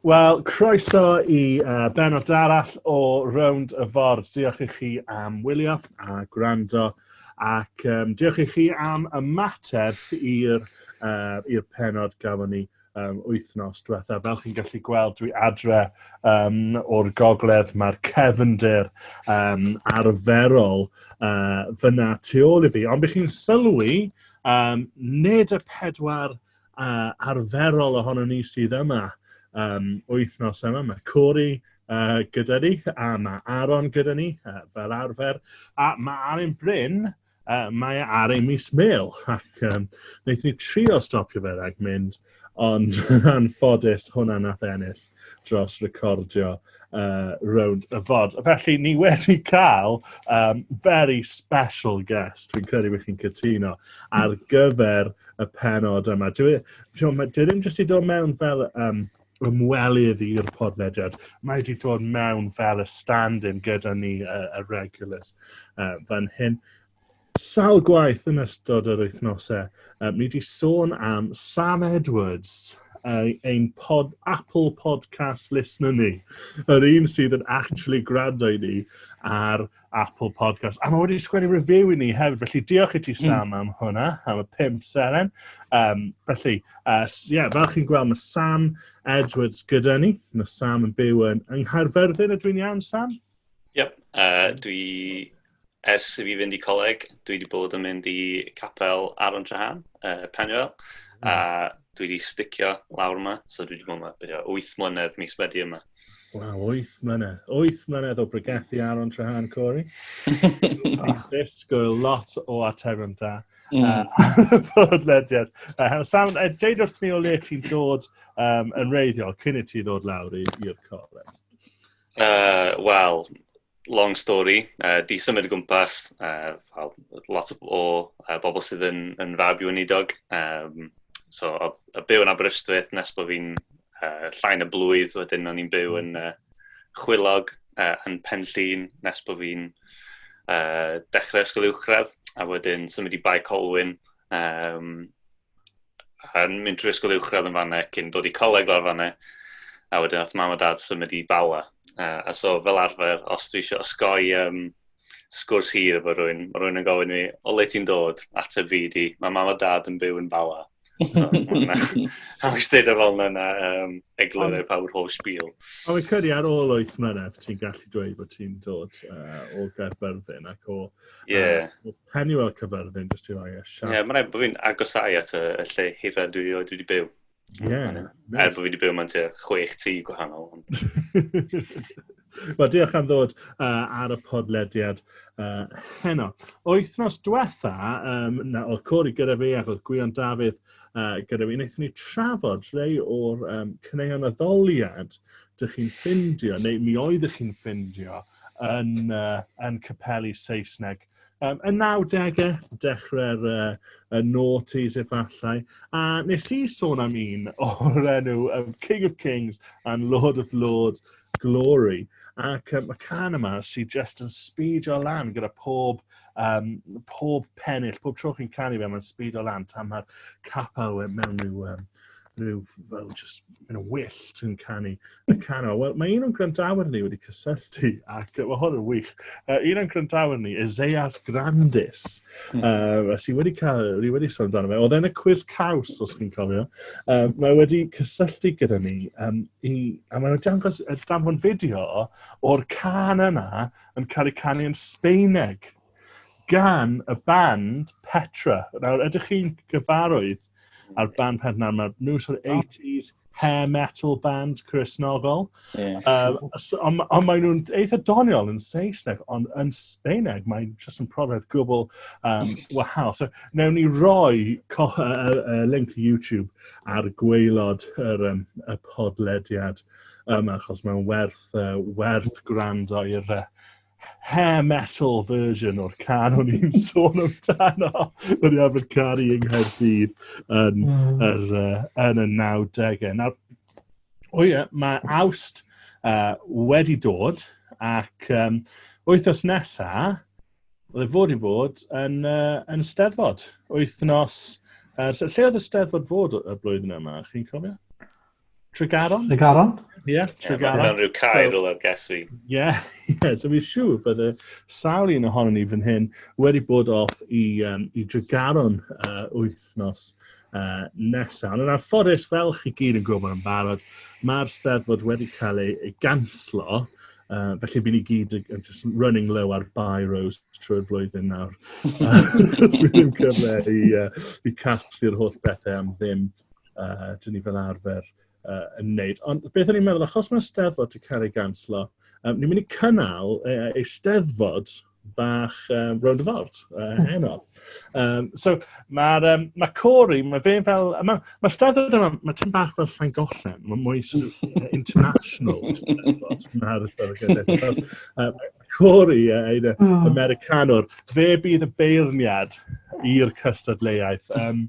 Wel, croeso i uh, benod arall o Rownd y Ford. Diolch i chi am wylio a gwrando ac um, diolch i chi am ymateb i'r uh, i'r penod gafon ni um, wythnos diwetha. Fel chi'n gallu gweld, dwi adre um, o'r gogledd, mae'r cefndir um, arferol uh, fyna tu ôl i fi. Ond bych chi'n sylwi, um, nid y pedwar uh, arferol ohono ni sydd yma um, wythnos yma. Mae Corey uh, gyda ni, a mae Aaron gyda ni, uh, fel arfer, a mae Aaron Bryn, uh, mae ar ei mis mil, ac um, wnaethon ni trio stopio fe rhag mynd, ond anffodus hwnna nath ennill. dros recordio uh, rownd y fod. Felly, ni wedi cael um, very special guest, fi'n credu bod chi'n cytuno, ar gyfer y penod yma. Dwi, dwi, dwi ddim jyst i dod mewn fel um, ymwelydd i'r podlediad. Mae wedi dod mewn fel y stand-in gyda ni, y, y regulars, uh, fan hyn. Sawl gwaith yn ystod yr wythnosau, yy, ni 'di sôn am Sam Edwards, yy, ein pod, Apple Podcast listener ni. Yr un sydd yn actually gwrando i ni ar Apple Podcast. A mae wedi sgwennu review i ni hefyd, felly diolch i ti hmm. Sam am hwnna, am y pimp seren. Um, felly, uh, yeah, fel chi'n gweld, mae Sam Edwards gyda ni. Mae Sam yn byw yn yng Nghaerfyrddin, ydw i'n iawn, Sam? Yep, uh, dwi, ers i fi fynd i coleg, dwi wedi bod yn mynd i capel Aron Trahan, uh, Penwell, mm. a dwi wedi sticio lawr yma, so dwi wedi bod yma bydde 8 mlynedd mis wedi yma. Waw, 8 mlynedd. 8 mlynedd o bregethu ar o'n trahan, Corey. Ni'n disgwyl lot o atebion da. Mm. Podlediad. Uh, Sam, uh, deud wrth mi o le ti'n dod um, yn reiddiol cyn i ti ddod lawr i'r coleg. Uh, Wel, long story, uh, di symud o gwmpas, uh, lot o uh, bobl sydd yn, yn fab i weinidog. Um, so, oedd y byw yn Aberystwyth nes bod fi'n uh, llain y blwydd, wedyn o'n i'n byw yn uh, chwilog uh, yn pen llun nes bod fi'n uh, dechrau ysgol uwchradd, a wedyn symud i Bae Colwyn. Um, yn mynd trwy ysgol uwchradd yn fanna, cyn dod i coleg lawr fanna, a wedyn oedd mam a dad symud i Bala. Uh, a so fel arfer, os dwi eisiau osgoi um, sgwrs hir efo rhywun, mae rhywun yn gofyn i mi, o le ti'n dod? Ateb fi di, mae mam a dad yn byw yn Bala. So, a wyst dweud ar ôl yna um, egluro pa yw'r holl sbîl. A wy'n credu ar ôl o'i ffynedd, ti'n gallu dweud bod ti'n dod uh, o Gaerfyrddin ac o Ie. Yeah. Uh, pen i weld cyfyrddin, jyst i roi e siarad. Ie, yeah, mae'n rhaid bod fi'n agosau at y, y lle hira dwi oed wedi byw. Ie. Yeah, er bod fi wedi byw mewn tua chwech tŷ gwahanol. Wel, diolch am ddod uh, ar y podlediad uh, heno. O wythnos diwetha, um, na, oedd Cori gyda fi ac oedd Gwion Dafydd uh, gyda fi, wnaethon ni trafod rhai o'r um, cyneuon addoliad dych chi'n ffindio, neu mi oeddech chi'n ffindio, yn, uh, yn capelu Saesneg. Um, y 90au, dechrau'r uh, y noughties efallai, a nes i sôn am un o'r enw um, King of Kings and Lord of Lords Glory. Ac um, y can yma sy'n just yn speedio lan gyda pob, um, pob pennill, pob tro chi'n canu fe, mae'n speedio lan tan mae'r capel mewn i'w um, rhyw fel just yn y wyll sy'n canu y canol. Wel, mae un o'n grandawyr ni wedi cysylltu ac mae hwn yn wych. Uh, un o'n grandawyr ni, Ezeas Grandis, mm. uh, sy'n wedi cael, ni wedi sôn amdano fe, oedd e'n y quiz caws, os chi'n cofio. Uh, mae wedi cysylltu gyda ni, um, i, a mae'n dangos y damfon fideo o'r can yna yn cael ei canu yn Sbeineg gan y band Petra. Nawr, ydych chi'n gyfarwydd a'r band peth nawr, mae'r nhw sort of 80s hair metal band Cresnogol. Yeah. Um, ond on maen nhw'n eitha doniol yn Saesneg, ond yn Sbeineg mae'n just yn profiad gwbl um, wahanol. So, newn ni roi co, uh, uh, link YouTube ar gweilod yr, um, y podlediad yma, achos mae'n werth, uh, werth gwrando i'r uh, hair metal version o'r can o'n i'n sôn amdano. O'n i'n arfer caru yng Nghaerdydd yn, mm. er, uh, yn y 90au. Nawr, o ie, mae awst uh, wedi dod ac um, wythnos nesa, oedd e fod i fod yn, uh, yn steddfod. Wythnos, uh, lle oedd y steddfod fod y blwyddyn yma, chi'n cofio? Tregaron? Tregaron? Ie, yeah, Tregaron. Mae hwnna'n rhyw cair so, o'r ges fi. Ie, yeah, yeah, so fi'n siŵr bod y sawl un ohono ni fan hyn wedi bod off i, um, i Tregaron uh, wythnos uh, nesaf. Ond yn anffodus, fel chi gyd yn gwybod yn barod, mae'r steddfod wedi cael ei, ei ganslo Uh, felly bydd ni gyd yn just running low ar buy rows trwy'r flwyddyn nawr. Dwi'n cyfle i, uh, i casglu'r holl bethau am ddim. uh, dyn ni fel arfer uh, yn wneud. Ond beth o'n i'n meddwl, achos mae'r steddfod wedi cael ei ganslo, um, ni'n mynd i cynnal uh, ei steddfod bach um, rownd y ford uh, hmm. heno. Um, so mae'r um, ma Corey, mae fe fel... Mae ma steddfod yma, mae tyn bach fel llain gollen, mae mwy sort of, uh, international. Mae'r steddfod gyda. Corey, ie, ein uh, oh. Americanwr. Fe bydd y beirniad i'r cystadleuaeth. Um,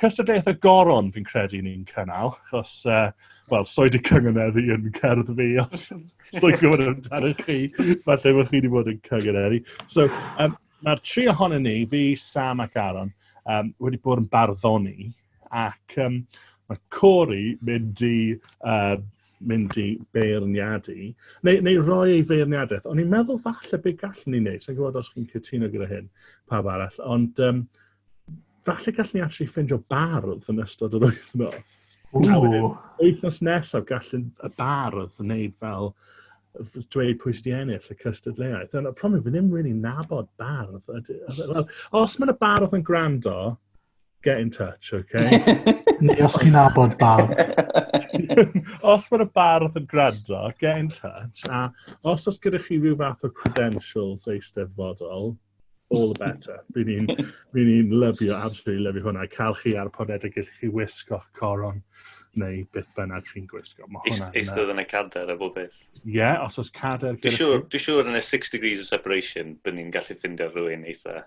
cystadleuaeth y goron, fi'n credu ni'n cynnal, achos, uh, wel, soi di cynganeddu yn cerdd fi, os dwi'n gwybod amdano chi, falle bod chi wedi bod yn cynganeddu. So, um, mae'r tri ohonyn ni, fi, Sam ac Aaron, um, wedi bod yn barddoni, ac um, mae Corey mynd i uh, mynd i beirniadu, neu, neu roi ei feirniadaeth. Ond i'n meddwl falle be gallwn ni wneud, sa'n gwybod os chi'n cytuno gyda hyn, pawb arall, ond um, falle gallwn ni actually ffindio bardd yn ystod yr wythnos. Wythnos nesaf gallwn y bardd wneud fel dweud pwy sydd wedi ennill y cystadleuaeth. Ond y problem, fi ddim really nabod bardd. Os mae'n y bardd yn gwrando, get in touch, okay? Neu os chi'n abod bardd. os mae'r bardd yn gwrando, get in touch. A os oes gyda chi rhyw fath o credentials eisteddfodol, all the better. Rwy'n ni'n ni, ni lyfio, absolutely lyfio hwnna. Cael chi ar podedig i chi wisgo coron neu beth bynnag chi'n gwisgo. Eisteddfod yn y cader a bob beth. Ie, yeah, os oes cader... Dwi'n siŵr, yn y 6 degrees of separation, bydd ni'n gallu ffindio rhywun eitha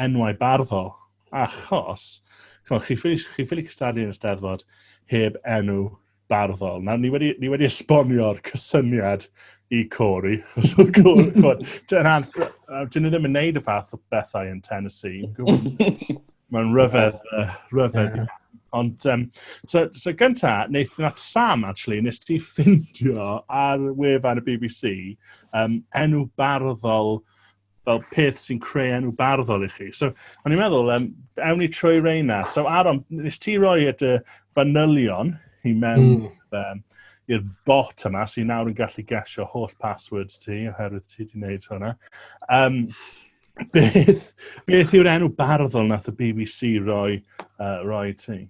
enwau barddol, achos, chimod, chi ffili, chi ffili cystadlu yn y steddfod heb enw barddol. Nawr, ni wedi, ni wedi esbonio'r cysyniad i Corey, chos oedd Corey, chimod, dyna'n, dyn nhw ddim yn neud y fath o bethau yn Tennessee. Mae'n rhyfedd, uh, rhyfedd. Yeah. Ond, um, so, so gynta, wnaeth, wnaeth Sam, actually, nes ti ffindio ar wefan y BBC um, enw barddol fel peth sy'n creu enw barddol i chi. So, o'n i'n meddwl, um, ewn ni trwy reina. So, Aron, nes ti roi at y fanylion i mewn mm. um, i'r bot yma, so i nawr yn gallu gesio holl passwords ti, oherwydd ti wedi gwneud hwnna. Um, beth, beth yw'r enw barddol nath y BBC roi, uh, roi ti?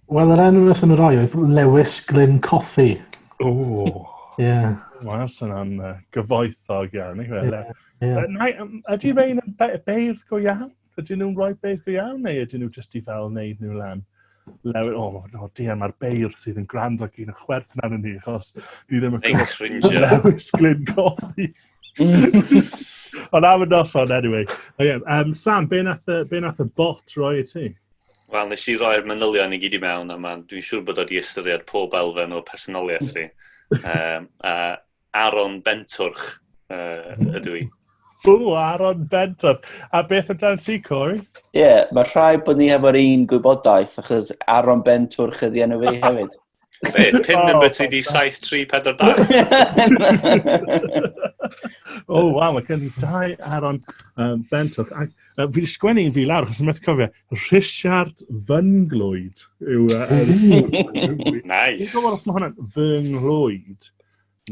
Wel yr enw nath nhw roi oedd Lewis Glyn Cothi. O! Ie. Wel sy'n am uh, gyfoethog iawn, neu fel e? Ydy rhain yn beirdd go iawn? Ydy nhw'n rhoi beirdd go iawn, neu ydy nhw jyst i fel wneud nhw lan? Lewis, o, oh, no, di mae'r beirdd sydd yn gwrando ac yn chwerth na ni, achos ni ddim yn gwybod Lewis Glyn Cothi. Ond am y noson, anyway. Okay, um, Sam, be nath, be nath y bot roi i ti? Wel, nes i roi'r manylion i gyd i mewn, a mae'n dwi'n siŵr bod o wedi ystyried pob elfen o personoliaeth fi. um, a Aaron Bentwrch uh, ydw i. Bw, Aaron Bentwrch. A beth amdano ti, Corey? Ie, yeah, mae rhai bod ni hefo'r un gwybodaeth, achos Aaron Bentwrch ydi enw fi hefyd. Be, pin oh, number ti di 7342? o, oh, waw, mae gen i dau Aaron um, Bentwch. A, uh, fi wedi sgwennu un fi lawr, achos yn methu cofio, Richard Fynglwyd yw... Uh, nice. Dwi'n gwybod os mae hwnna'n Fynglwyd.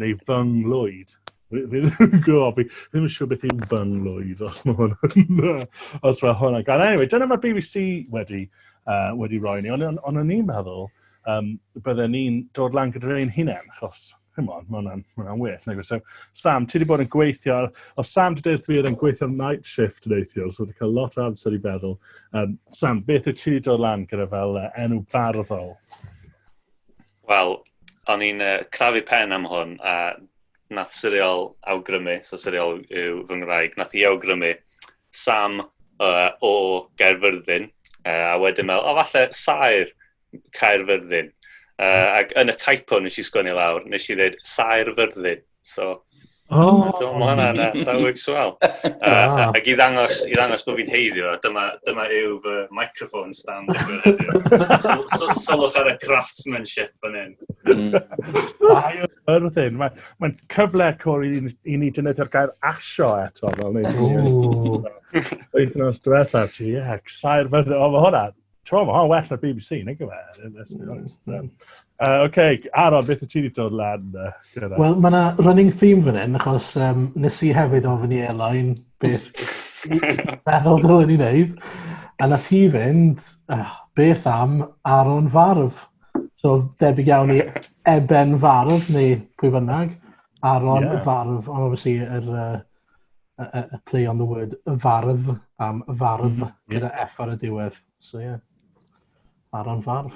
Neu fy nghlwyd. Ddim yn gwybod, fi ddim yn siŵr beth yw fy nghlwyd, os mae hwn yn... os mae hwn yn... Anyway, dyna mae BBC wedi, uh, wedi roi ni, ond on, on o'n i'n meddwl, um, bydden ni'n dod lan gyda'r ein hunain, achos Come on, mae hwnna'n ma hwnna well. Nag so, Sam, ti wedi bod yn gweithio, o Sam wedi dweud fi oedd yn gweithio night shift neithiwr, so wedi cael lot o amser i feddwl. Um, Sam, beth wyt ti wedi dod lan gyda fel uh, enw barddol? Wel, o'n i'n uh, crafu pen am hwn, a nath Siriol awgrymu, so Siriol yw fy ngwraig, nath i awgrymu Sam uh, o Gaerfyrddin, uh, a wedyn meddwl, o falle Saer Caerfyrddin. Uh, ac yn y typo nes i sgwini lawr, nes i ddweud Saer Fyrddin. So, oh. so mae hwnna'n uh, llawig swal. Uh, ac i ddangos, i ddangos bod fi'n heiddio, dyma, dyma yw fy microphone stand so, Solwch ar y craftsmanship fan hyn. Mae o'r thyn. Mae'n cyfle cwr i, i ni dynyddu'r gair asio eto. Fel ni. Wythnos diwethaf, GX. Saer fydde, o, mae hwnna. Twm, o, well na BBC, nag yw e? Mm. Oce, Aron, beth y ti wedi dod lan? Wel, mae yna running theme fan hyn, achos um, nes i hefyd ofyn i Elain beth meddwl dylen ni wneud. A nath hi fynd, uh, beth am Aron Farf? So, debyg iawn i Eben Farf, neu pwy bynnag, Aron yeah. Farf, ond obviously yr, uh, a, a, a play on the word fardd am fardd mm -hmm. gyda F ar y diwedd. So ie, yeah. Aaron Fardd.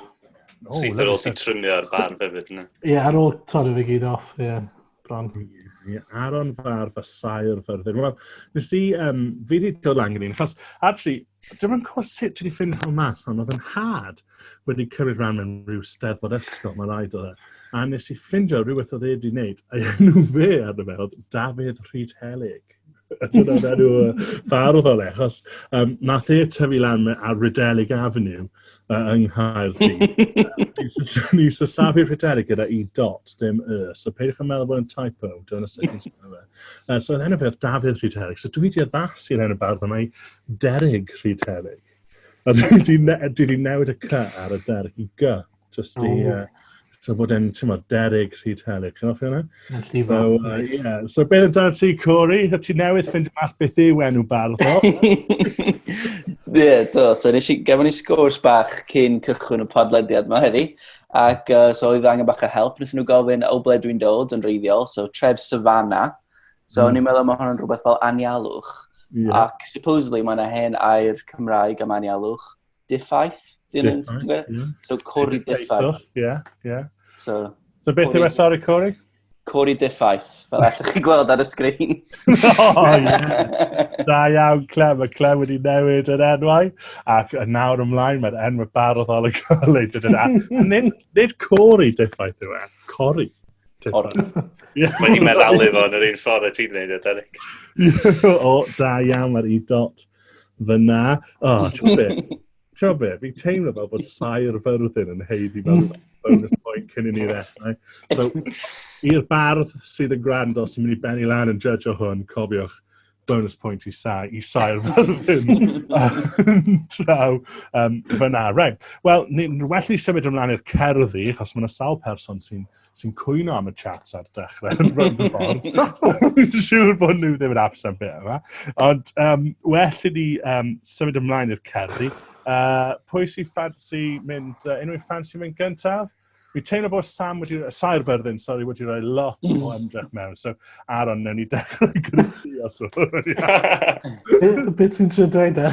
Oh, Syth ar ôl ti trymio ar fardd hefyd, ne? Ie, yeah, ar ôl torri fi gyd off, ie. Yeah. Bron. Yeah, Aaron Fardd a Saer Fyrddin. Wel, nes i, um, fi wedi dod lan gyda'n, achos, actually, dim ond cwrs sut dwi wedi ffeindio hwn mas, ond oedd yn hard. wedi cymryd rhan mewn rhyw steddfod ysgol, mae'n rhaid o dda. A nes i ffindio rhywbeth oedd e wedi wneud, a enw fe ar y mewn, Dafydd Rhyd Helig. Dyna'n enw fardd o'n e, achos um, nath e tyfu lan ar Rydelig Avenue uh, yng Nghaerdydd. Ni sysafu Rydelig gyda i dot, dim y. So peidiwch yn meddwl bod yn typo, dyna sut ni'n sy'n fe. Uh, so oedd enw fe oedd Dafydd Rhyd Helig. So dwi wedi addasu i'r enw bardd yma i Derig Rhyd Helig. A dwi wedi ne- dwi wedi newid y cy ar y der i gy, jyst i... O. Uh, so bod e'n, ti'n modd, derig rhy teli. Chi'n offi hwnna? Yn llifo. So, uh, Nice. yeah. so beth amdano ti, Corey? A ti newydd ffindio mas beth yw enw bardd o? Ie, do. So, nes i, gefon ni sgwrs bach cyn cychwyn y podlediad yma heddi. Ac uh, so, oedd angen bach o help. Nethon nhw gofyn o ble dwi'n dod yn reiddiol. So, tref Savannah. So mm. o'n i'n meddwl mae hwn yn rhywbeth fel anialwch. Yeah. Ac supposedly mae yna hen air Cymraeg am anialwch. Diffaith? Dyn So cori diffaith. Yeah, yeah. So, so beth yw e, sori, cori? Cori diffaith, fel allwch chi gweld ar y sgrin. oh, yeah. Da iawn, Clem. Mae Clem wedi newid yr enwau. Ac yn nawr ymlaen, mae'r enw barod ar y golyg. Nid, nid cori diffaith yw e. Cori. Cori. Mae hi'n meddalu fo yn yr un ffordd y ti'n neud e, Derek. o, da iawn, mae'r i dot fyna. O, oh, ti'n be? Ti'n be? Fi'n teimlo fel bod sair fyrddin yn heiddi fel bonus point cyn i ni ddechrau. So, i'r bardd sydd yn gwrando, sy'n mynd i benni lan yn judge o hwn, cofiwch, bonus point i sa, i saer fel ddim draw um, fyna. Right. Wel, ni'n well i symud ymlaen i'r cerddi, achos mae yna sawl person sy'n sy cwyno am y chat ar dechrau yn rhwng y ffordd. Dwi'n siŵr bod nhw ddim yn absent beth yma. Ond um, well i ni um, symud ymlaen i'r cerddi. Uh, pwy sy'n ffansi mynd, uh, unrhyw ffansi mynd gyntaf? Fi teimlo bod Sam wedi, Saer Fyrddin, sorry, wedi rhoi lot o mm. ymdrech mewn. So, Aaron, newn ni dechrau gyda ti os Beth sy'n trio dweud e?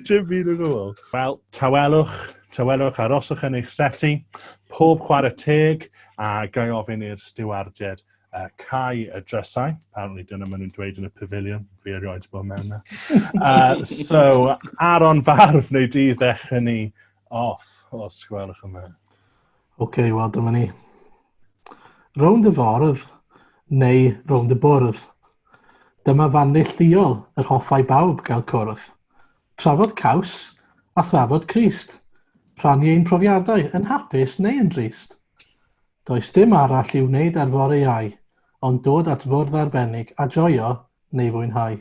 Dwi'n byd yn ôl. Wel, tawelwch, tawelwch, aroswch yn eich seti, pob chwarae teg, a gai ofyn i'r stiwardiad uh, cau y drysau. Apparently dyna maen nhw'n dweud yn y pavilion, fi erioed bod mewn yna. Uh, so, Aaron Farf, neu di ddechrau ni off, os gwelwch yn dda. OK, wel dyma ni. Rownd y fordd, neu rownd y bwrdd. Dyma fan neillduol yr hoffai bawb gael cwrdd. Trafod caws a thrafod Crist. Rhannu ein profiadau yn hapus neu yn drist. Does dim arall i'w wneud ar fore iau, ond dod at fwrdd arbennig a joio neu fwynhau.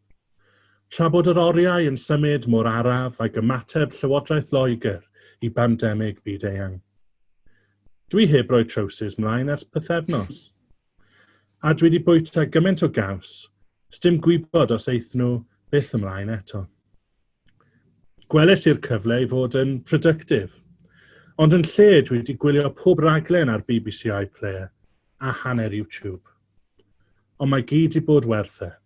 Tra bod yr oriau yn symud mor araf ag ymateb Llywodraeth Loegr i bandemig byd-eang. Dwi heb roi trowsus mlaen ers pythefnos. A dwi 'di bwyta gymaint o gaws, sdim gwybod os eith nhw byth ymlaen eto. Gwelais i'r cyfle i fod yn productive. Ond yn lle dwi 'di gwylio pob raglen ar bbc iPlayer a hanner YouTube. Ond mae gyd 'di bod werth e.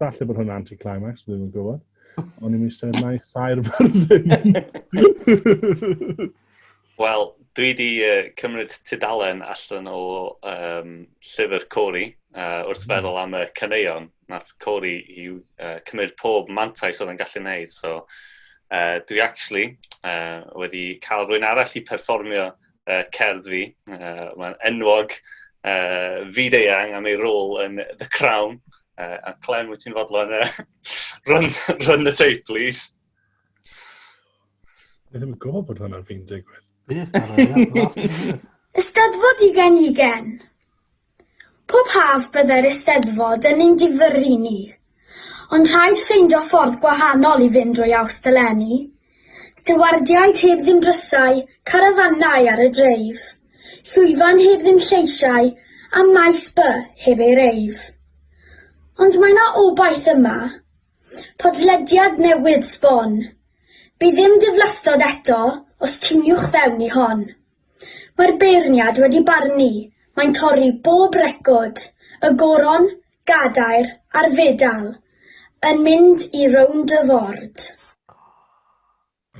Falle bod hwnna anti-climax, fi ddim yn gwybod. Ond i'n eisiau nai sair fyrddyn. Wel, dwi wedi uh, cymryd tudalen allan o um, llyfr Cori uh, wrth hmm. feddwl am y caneuon. Nath Cori i uh, cymryd pob mantais oedd yn gallu wneud. So, uh, dwi actually uh, wedi cael rwy'n arall i perfformio uh, cerdd fi. Uh, Mae'n enwog, uh, fyd-eang am ei rôl yn The Crown. Uh, a Clem, wyt ti'n fodlon uh, run, run the tape, please? Dwi ddim yn gwybod bod hwnna'n fi'n digwydd. Beth? Ystadfod i gen i gen. Pob haf byddai'r Eisteddfod yn ein difyrru ni, ond rhaid ffeindio ffordd gwahanol i fynd drwy Awst eleni. Stewardiaid heb ddim drysau, carafannau ar y dreif, llwyfan heb ddim lleisiau a maes by heb ei reif. Ond mae 'na obaith yma. Podlediad newydd sbon. Bydd dim diflastod eto os tiniwch fewn i hon. Mae'r beirniad wedi barnu, mae'n torri bob record, y goron, gadair a'r fedal, yn mynd i rownd y ford.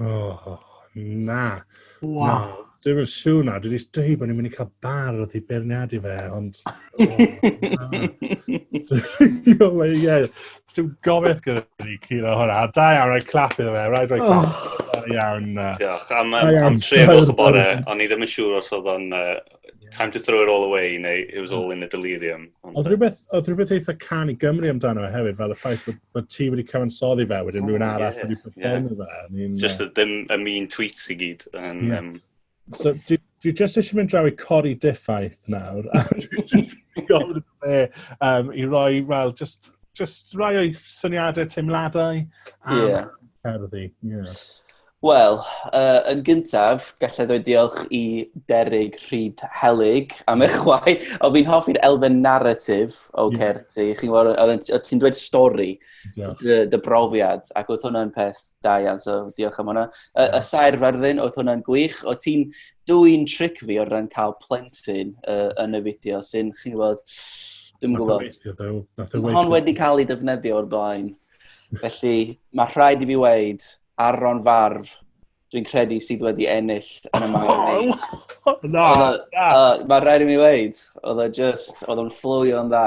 Oh, na. Wow. Na, dim yn siw na. Dwi wedi dweud bod ni'n mynd i cael bar wrth i beirniadu fe, ond... Oh, na. Dwi'n meddwl, ie. Dwi'n gobeith gyda ni curo hwnna. Da iawn, rhaid clap iddo fe. Rhaid rhaid clap. Oh. Da iawn. Diolch. Am, am, am trefwch y bore, o'n i ddim yn siŵr os oedd o'n uh, time to throw it all away neu it was all in a delirium. Oedd rhywbeth, oedd rhywbeth eitha can i Gymru amdano fe hefyd, fel y ffaith bod, bod ti wedi cyfansoddi fe, wedyn oh, rhywun arall yeah, wedi performio yeah. fe. Just uh, ddim y mean tweets i gyd. And, yeah. um, So, dwi, dwi just eisiau mynd draw i cori diffaith nawr. A dwi just gofyn fe um, i roi, well, just, just rai o'i syniadau, teimladau am yeah. cerddi. Yeah. Wel, uh, yn gyntaf, gallai ddweud diolch i Derig Rhyd Helig am eich chwai. O, fi'n hoffi'r elfen narratif o yeah. Certi. Chi'n gwybod, o ti'n dweud stori, dy, dy brofiad, ac oedd hwnna'n peth Da iawn, so diolch am hwnna. Y, y sair fyrddin, oedd hwnna'n gwych. O ti'n dwy'n tric fi o'r ran cael plentyn uh, yn y fideo sy'n, chi'n gwybod, dwi'n gwybod. Hon wedi cael ei defnyddio o'r blaen. Felly, mae rhaid i fi weid, Aron Farf, dwi'n credu sydd wedi ennill yn y maen. Na, na. Mae rhaid i mi weid, oedd o just, oedd o'n fflwio'n dda.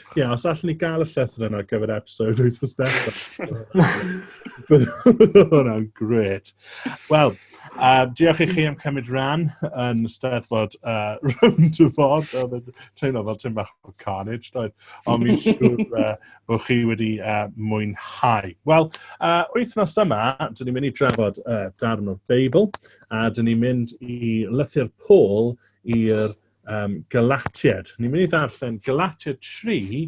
Ie, os allwn ni gael y llythyr yna ar gyfer episode wythnos nesaf. Bydd hwnna'n gret. Wel, uh, diolch i chi am cymryd rhan yn steddfod uh, round y fod. Oedd yn teimlo fel tyn bach o carnage, doedd. Ond mi'n siŵr uh, bod chi wedi uh, mwynhau. Wel, uh, wythnos yma, dyn ni'n mynd i drafod uh, darn o'r Beibl, a dyn ni'n mynd i lythyr Paul i'r um, Galatiad. Ni'n mynd i ddarllen Galatiad 3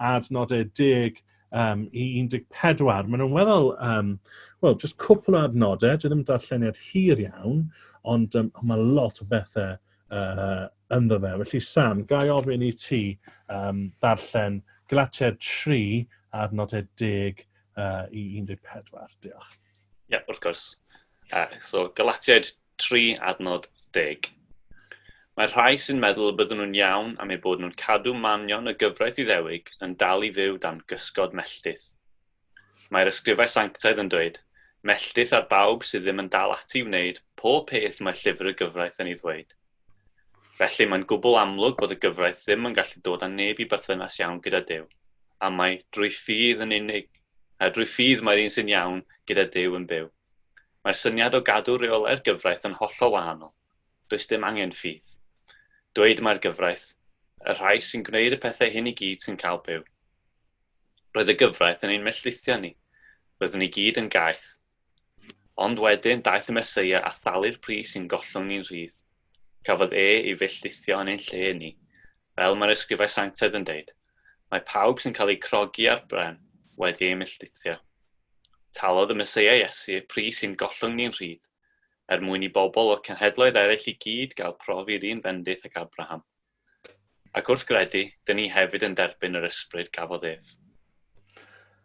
ar nodau 10 um, i 14. Maen nhw'n weddol, um, wel, just cwpl o adnodau, dwi ddim yn darlleniad hir iawn, ond um, mae lot o bethau uh, ynddo fe. Felly Sam, gai ofyn i ti um, darllen Galatiad 3 ar nodau 10 uh, i 14. Diolch. Ie, yeah, wrth gwrs. Uh, so, Galatiad tri adnod deg. Mae'r rhai sy'n meddwl y bydden nhw'n iawn am eu bod nhw'n cadw manion y gyfraith Iddewig yn dal i fyw dan gysgod melltith. Mae'r ysgrifau sanctaidd yn dweud, Melltith ar bawb sydd ddim yn dal ati i wneud pob peth mae llyfr y gyfraith yn ei ddweud. Felly mae'n gwbl amlwg bod y gyfraith ddim yn gallu dod â neb i berthynas iawn gyda Duw, am mai drwy ffydd yn unig, drwy ffydd mae'r un sy'n iawn gyda Duw yn byw. Mae'r syniad o gadw rheolau'r gyfraith yn hollol wahanol. Does dim angen ffydd. Dweud mai'r gyfraith, y rhai sy'n gwneud y pethau hyn i gyd sy'n cael byw. Roedd y gyfraith yn ein melltithio ni. Roeddwn ni gyd yn gaeth. Ond wedyn daeth y Meseia a thalu'r pris i'n gollwng ni'n rhydd. Cafodd e ei felltithio yn ein lle ni. Fel mae'r Ysgrifau Sanctaidd yn deud, Mae pawb sy'n cael eu crogi ar bren wedi ei milltithio. Talodd y Meseia Iesu y pris i'n gollwng ni'n rhydd, er mwyn i bobl o cenhedloedd eraill i gyd gael prof i'r un fendith ag Abraham. Ac wrth gredu, dyn ni hefyd yn derbyn yr ysbryd gafodd ef.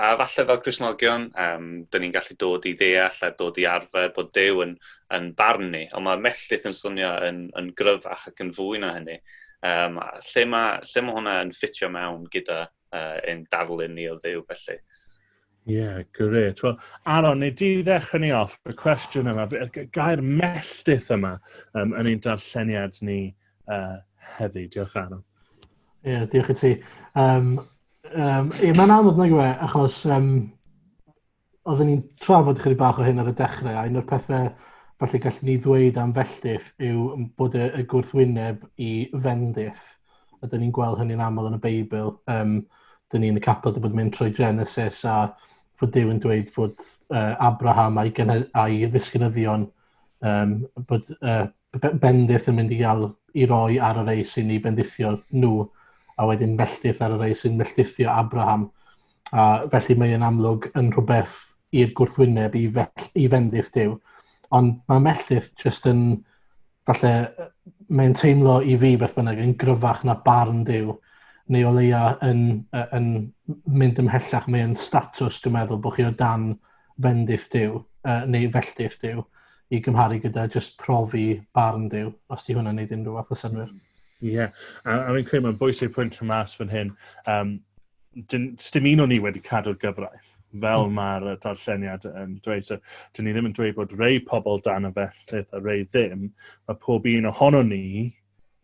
A falle fel Cresnogion, um, dyn ni'n gallu dod i ddeall a dod i arfer bod Dew yn, yn barn ni, ond mae melltith yn swnio yn, yn gryfach ac yn fwy na hynny. Um, lle, mae, lle mae hwnna yn ffitio mewn gyda uh, ein darlun ni o ddew felly? Ie, yeah, gret. Wel, Aron, neu di ddechrau ni off, y cwestiwn yma, y gair melltith yma um, yn ein darlleniad ni uh, heddi. Diolch, Aaron. Ie, yeah, diolch i ti. Um, um, ie, mae'n anodd nag yw e, achos um, oedden ni'n trafod chydig bach o hyn ar y dechrau, a un o'r pethau falle gallwn ni ddweud am felltith yw bod y, y gwrthwyneb i fendith, a dyn ni'n gweld hynny'n aml yn y Beibl, um, dyn ni'n y capod y bod mynd trwy Genesis a fod Dyw yn dweud fod uh, Abraham a'i, a'i ddisgynyddion um, bod uh, bendith yn mynd i gael i roi ar y rei sy'n ei bendithio nhw, a wedyn melltith ar y rei sy'n melltithio Abraham. A felly mae yn amlwg yn rhywbeth i'r gwrthwyneb i, fell, i fendith Dyw. Ond mae melltith jyst yn, falle, mae'n teimlo i fi beth bynnag yn gryfach na barn Dyw, neu o leia yn, yn mynd ymhellach, mae'n statws, dwi'n meddwl, bod chi o dan fendith Dyw, uh, neu felltith Dyw. i gymharu gyda just profi barn Duw, os di hwnna'n neud unrhyw fath o synwyr. Mm. Ie, yeah. a, a fi'n credu mae'n bwysig pwynt rhan mas fan hyn. Um, Stim un o'n ni wedi cadw'r gyfraith, fel mm. mae'r darlleniad yn dweud. So, dyn ni ddim yn dweud bod rei pobl dan y felltith a rei ddim. Mae pob un ohono ni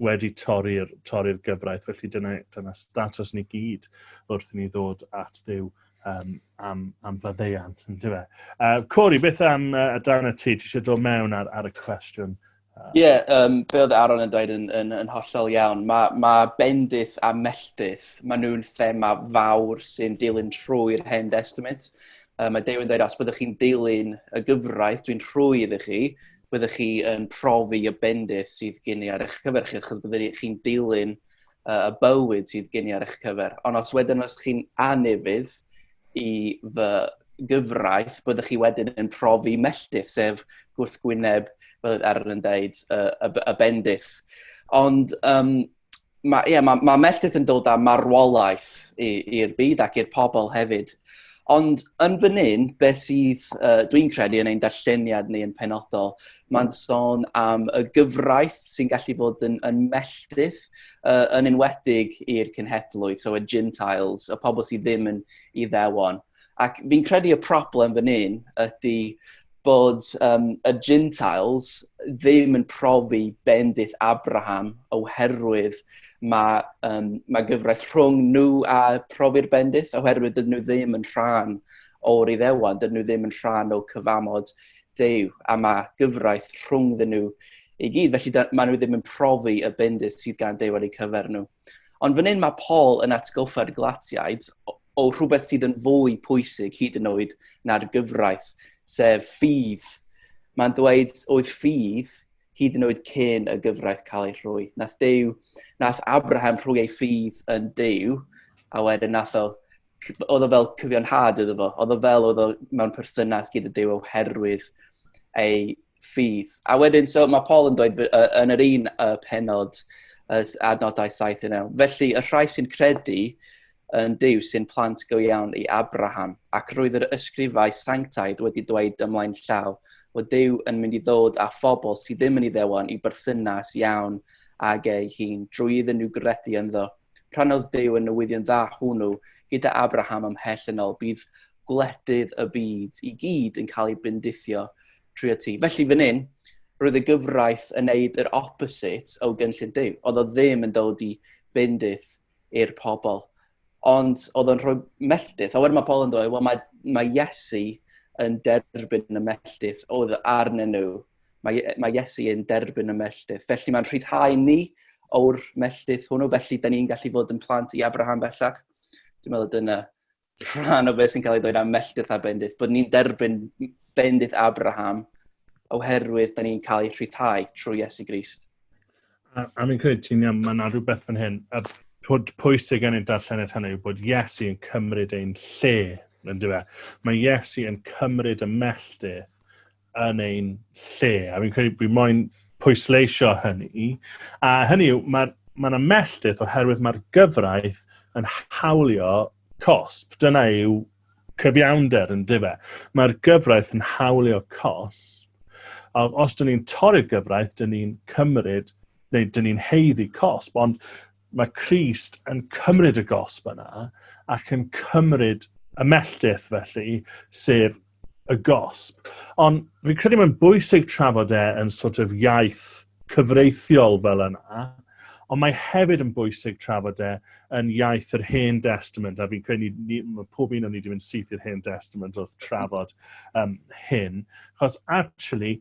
wedi torri'r torri'r gyfraith, felly dyna, dyna status ni gyd wrth i ni ddod at ddew um, am, am faddeiant, yn dweud. Uh, Cori, beth am uh, dan y ti? Ti eisiau dod mewn ar, ar y cwestiwn? Ie, uh, yeah, um, be oedd Aaron yn dweud yn, yn, yn hollol iawn. Mae ma bendith a melltith, maen nhw'n thema fawr sy'n dilyn trwy'r hen testament. Um, mae Dew yn dweud, os byddwch chi'n dilyn y gyfraith, dwi'n rhwy iddo chi, byddwch chi yn profi y bendith sydd gen i ar eich cyfer chi, achos byddwch chi'n dilyn uh, y bywyd sydd gen i ar eich cyfer. Ond os wedyn os chi'n anifydd i fy gyfraith, byddwch chi wedyn yn profi melltith, sef gwrthgwyneb, fel ar yn dweud, y, y, y bendith. Ond um, mae, yeah, mae, mae melltith yn dod â marwolaeth i'r byd ac i'r pobl hefyd. Ond yn fan hyn, beth sydd, uh, dwi'n credu yn ein darlleniad ni yn penodol, mae'n sôn am y gyfraith sy'n gallu fod yn, yn melltith, uh, yn enwedig i'r cynhedlwydd, so y Gentiles, y pobl sydd ddim yn iddewon. Ac fi'n credu y problem fan hyn ydy bod um, y Gentiles ddim yn profi bendith Abraham oherwydd mae, um, mae gyfraith rhwng nhw a profi'r bendith oherwydd dydyn nhw ddim yn rhan o'r iddewan, dydyn nhw ddim yn rhan o cyfamod Dew a mae gyfraith rhwng ddyn nhw i gyd. Felly da, maen nhw ddim yn profi y bendith sydd gan Dew ar eu cyfer nhw. Ond fan hyn mae Paul yn atgoffa'r glatiaid o, o rhywbeth sydd yn fwy pwysig hyd yn oed na'r gyfraith, sef ffydd. Mae'n dweud oedd ffydd hyd yn oed cyn y gyfraith cael ei rhwy. Nath, dew, nath Abraham rhwy ei ffydd yn dew, a wedyn nath o, oedd o fel cyfiawnhad iddo fo, oedd o fel oedd o mewn perthynas gyda dew oherwydd ei ffydd. A wedyn, so mae Paul yn dweud uh, yn yr un uh, penod uh, adnodau 7 yn ewn. Felly, y rhai sy'n credu yn Dyw sy'n plant go iawn i Abraham, ac roedd yr ysgrifau sanctaidd wedi dweud ymlaen llaw bod Dyw yn mynd i ddod â phobl sydd ddim yn ei ddewon i berthynas iawn ag ei hun drwy iddyn nhw gredu ynddo. Rhannodd Duw y newyddion dda hwnnw gyda Abraham ymhell yn ôl. Bydd gwledydd y byd i gyd yn cael ei bendithio trwy y ti. Felly fan hyn, roedd y gyfraith yn neud yr opposite o gynllun Duw. Oedd o ddim yn dod i bendith i'r pobl. Ond oedd o'n rhoi melltith. A wedyn mae Paul yn dweud, wel mae, mae Iesu yn derbyn y melltith oedd arnyn nhw Mae, mae Iesu yn derbyn y melltith. Felly mae'n rhyddhau ni o'r melltith hwnnw, felly da ni'n gallu fod yn plant i Abraham bellach. Dwi'n meddwl dyna rhan o beth sy'n cael ei ddweud am melltith a bendith, bod ni'n derbyn bendith Abraham oherwydd da ni'n cael ei rhyddhau trwy Iesu Grist. A, a mi'n credu ti'n iawn, mae yna rhywbeth fan hyn, a bod pwysig yn ein darllened hynny yw bod Iesu yn cymryd ein lle, yn dweud. Mae Iesu yn cymryd y melltith yn ein lle. A fi'n credu bod moyn pwysleisio hynny. A hynny yw, mae yna ma melltith oherwydd mae'r gyfraith yn hawlio cosp. Dyna yw cyfiawnder yn dife. Mae'r gyfraith yn hawlio cosp. A os dyn ni'n torri'r gyfraith, dyn ni'n cymryd, neu dyn ni'n heiddi cosp, ond mae Christ yn cymryd y gosb yna ac yn cymryd y melltith felly, sef y gosb. Ond fi'n credu mae'n bwysig trafod e yn sort of iaith cyfreithiol fel yna, ond mae hefyd yn bwysig trafod e yn iaith yr Hen Testament, a fi'n credu ni, ni, pob un o'n ni wedi mynd syth i'r Hen Testament wrth trafod um, hyn, chos actually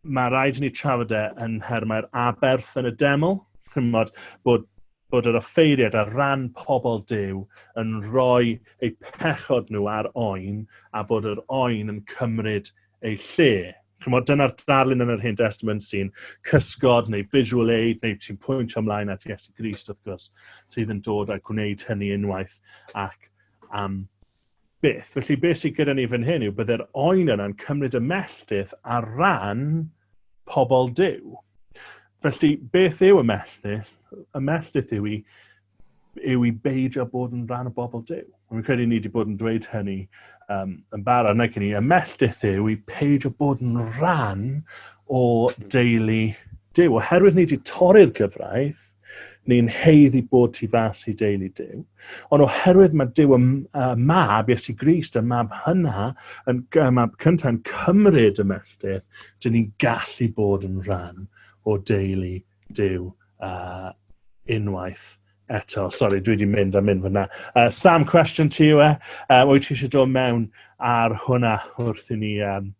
mae rhaid i ni trafod e yn nhermau'r aberth yn y deml, chymod bod bod yr offeiriad ar ran pobl Duw yn rhoi eu pechod nhw ar oen a bod yr oen yn cymryd eu lle. Chymod, dyna'r darlun yn yr Hen Testament sy'n cysgod neu visual aid neu sy'n pwyntio ymlaen at Iesu Grist wrth gwrs sydd yn dod a gwneud hynny unwaith ac am Byth. Felly beth sydd gyda ni fan hyn yw bydde'r oen yna'n cymryd y melltith ar ran pobl Duw. Felly beth yw y melltith? Y melltith yw i yw i beidio bod yn rhan o bobl Dyw. Mae'n credu ni wedi bod yn dweud hynny um, yn barod nag i ni. Y melltith yw i peidio bod yn rhan o deulu Dyw. Oherwydd ni wedi torri'r gyfraith, Ni'n heiddi bod tu fas i deulu Dyw. Ond oherwydd mae Dyw y mab, Iesu Grist, y mab hynna, yn, y mab cyntaf yn cymryd y melltith, dyn ni'n gallu bod yn rhan o deulu Dyw uh, unwaith eto. Sorry, dwi wedi mynd a mynd fyna. Uh, Sam, cwestiwn ti yw e? Uh, wyt ti eisiau dod mewn ar hwnna wrth i ni um,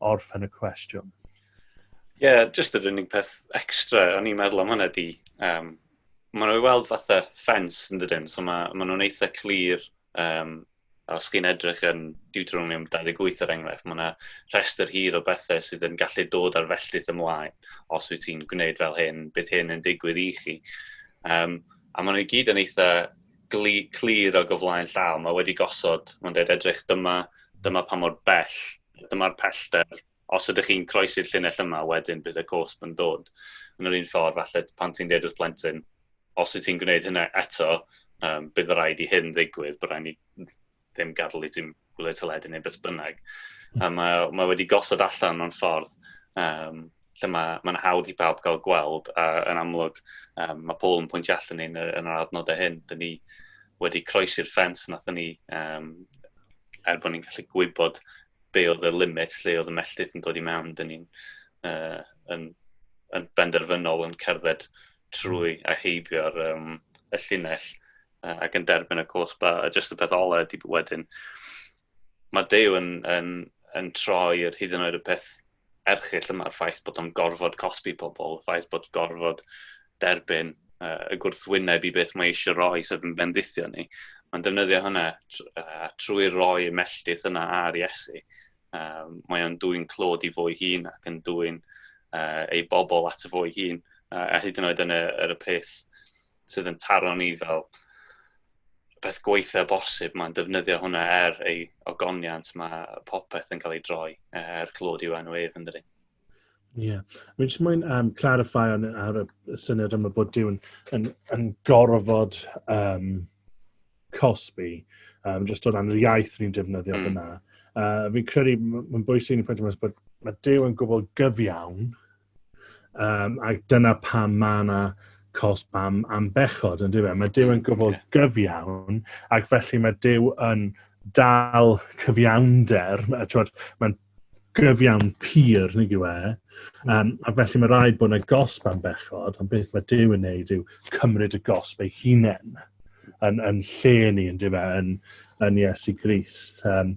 orffen y cwestiwn? Ie, yeah, just yr unig peth extra o'n i'n meddwl am hwnna di. Um, maen nhw'n weld fatha ffens yn dydyn, so maen ma nhw'n eitha clir um, os chi'n edrych yn Deuteronomium 28 er enghraifft, mae yna rhestr hir o bethau sydd yn gallu dod ar felltith ymlaen os wyt ti'n gwneud fel hyn, bydd hyn yn digwydd i chi. Um, a maen nhw i gyd yn eitha gli, clir o gyflaen llaw, mae wedi gosod, mae'n dweud edrych dyma, dyma pa mor bell, dyma'r pellter, os ydych chi'n croesi'r llinell yma, wedyn bydd y cosb yn dod. Yn yr un ffordd, falle pan ti'n deud wrth plentyn, os wyt ti'n gwneud hynna eto, um, bydd rhaid i hyn ddigwydd, bydd rhaid ni ddim gadael i ti'n gwylio teledu neu beth bynnag. A mae, mae wedi gosod allan mewn ffordd um, lle mae, mae'n hawdd i bawb gael gweld, a yn amlwg um, mae Paul yn pwyntio allan ni'n yn yr adnodau hyn, dyn ni wedi croesi'r ffens nath ni um, er bod ni'n gallu gwybod be oedd y limit lle oedd y melltith yn dod i mewn, dyn ni'n uh, yn, yn benderfynol yn cerdded trwy a heibio'r um, y llinell uh, ac yn derbyn y cwrs ba, a jyst y peth ola ydy wedyn. Mae Dew yn, yn, yn troi yr hyd yn oed y peth erchill yma, y ffaith bod o'n gorfod cosbi pobl, y ffaith bod gorfod derbyn uh, y gwrthwyneb i beth mae eisiau roi sef yn bendithio ni. Mae'n defnyddio hynna uh, trwy roi y melltith yna ar Iesu. Uh, mae o'n dwy'n clod i fo'i hun ac yn dwy'n uh, ei bobl at y fo'i hun. Uh, a hyd yn oed yn y, er y peth sydd yn taro ni fel peth gweitha bosib, mae'n defnyddio hwnna er ei ogoniant, mae popeth yn cael ei droi eh, er clod yw enw ef yn dydi. Ie. Yeah. Mi'n jyst mwyn um, clarify ar, ar y syniad yma bod Duw yn, yn, yn gorfod um, cosbi, um, jyst o ran yr iaith ni'n defnyddio mm. fyna. Uh, fi'n credu, mae'n bwysig yn y pwynt yma, bod mae Duw yn gwbl gyfiawn, Um, ac dyna pam mae yna cosb am, am bechod, yn dweud. Mae Dyw yn gwybod yeah. gyfiawn, ac felly mae Dyw yn dal cyfiawnder, mae'n gyfiawn pur, nid yw e. Um, a felly mae rhaid bod yna gosb am bechod, ond beth mae Dyw yn neud yw cymryd y gosb ei hunain yn, yn lle ni, yn dyfa, e, yn, yn Iesu Gris. Um,